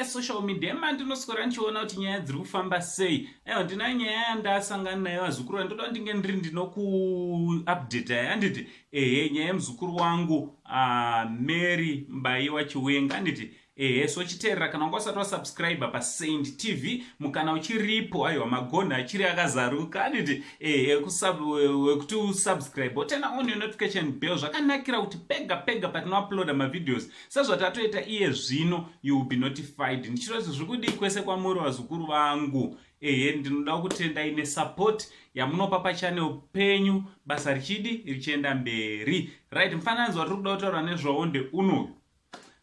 social media ema ndinoswera ndichiona kuti nyaya dziri kufamba sei aiwa ndina nyaya yandasangana nayo vazukuru vandoda kuti ndinge ndiri ndinokuupdate yayo anditi ehe nyaya yemuzukuru wangu uh, mary mbayiwa chiwenga anditi Ehe so chiterera kana wanga usati wasubscriber pasaint tv mukana uchiripo aiwa magonhi achiri akazaruka aniti ehe wekuti usubscribe otena on your notification bell zvakanakira kuti pega pega patinouploada mavideos sezvatatoita iye zvino you will be notified ndichiro kuti zviri kudii kwese kwamuri vazukuru vangu ehe ndinoda kutendai nesupport yamunopa pachanel penyu basa richidi richienda mberi right mufananidzo watiri kuda kutaura nezvawo ndeunoyu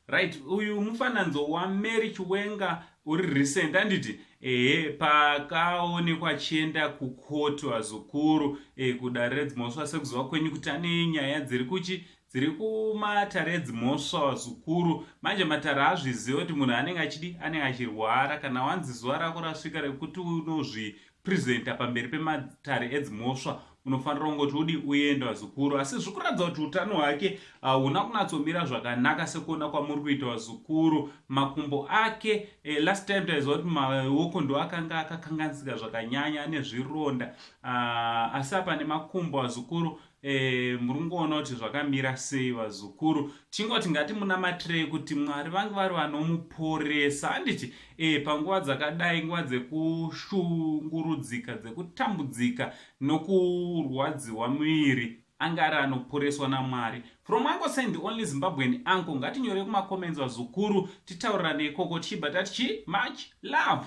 right uyu mufananidzo wamary chiwenga uri recent anditi ehe pakaonekwa achienda kukoto vazukuru e, eh, kudare redzimhosva sekuziva kwenyu kuti ane nyaya dziri kuchi dziri kumatare edzimhosva vazukuru manje matare azviziva kuti munhu anenge achidi anenge achirwara kana wanzi zuva rako rasvika rekuti unozvi presenter pamberi pematare edzimhosva unofanira kungoti udi uenda vazukuru asi zviri kuratidza kuti utano hwake ah, huna uh, kunatsomira zvakanaka sekuona kwamuri kuita vazukuru makumbo ake eh, last time taiziva kuti maoko ndo akanga akakanganisika zvakanyanya ane zvironda uh, asi apa nemakumbo vazukuru E, muri kungoona kuti zvakamira sei vazukuru tingoti ngati munamatirei kuti mwari vange vari vanomuporesa handiti e, panguva dzakadai nguva dzekushungurudzika dzekutambudzika nokurwadziwa muviri ange ari anoporeswa namwari from uncle sen the only zimbabwean uncle ngatinyorei kumacomments vazukuru titaurirane ikoko tichibva tati chi much love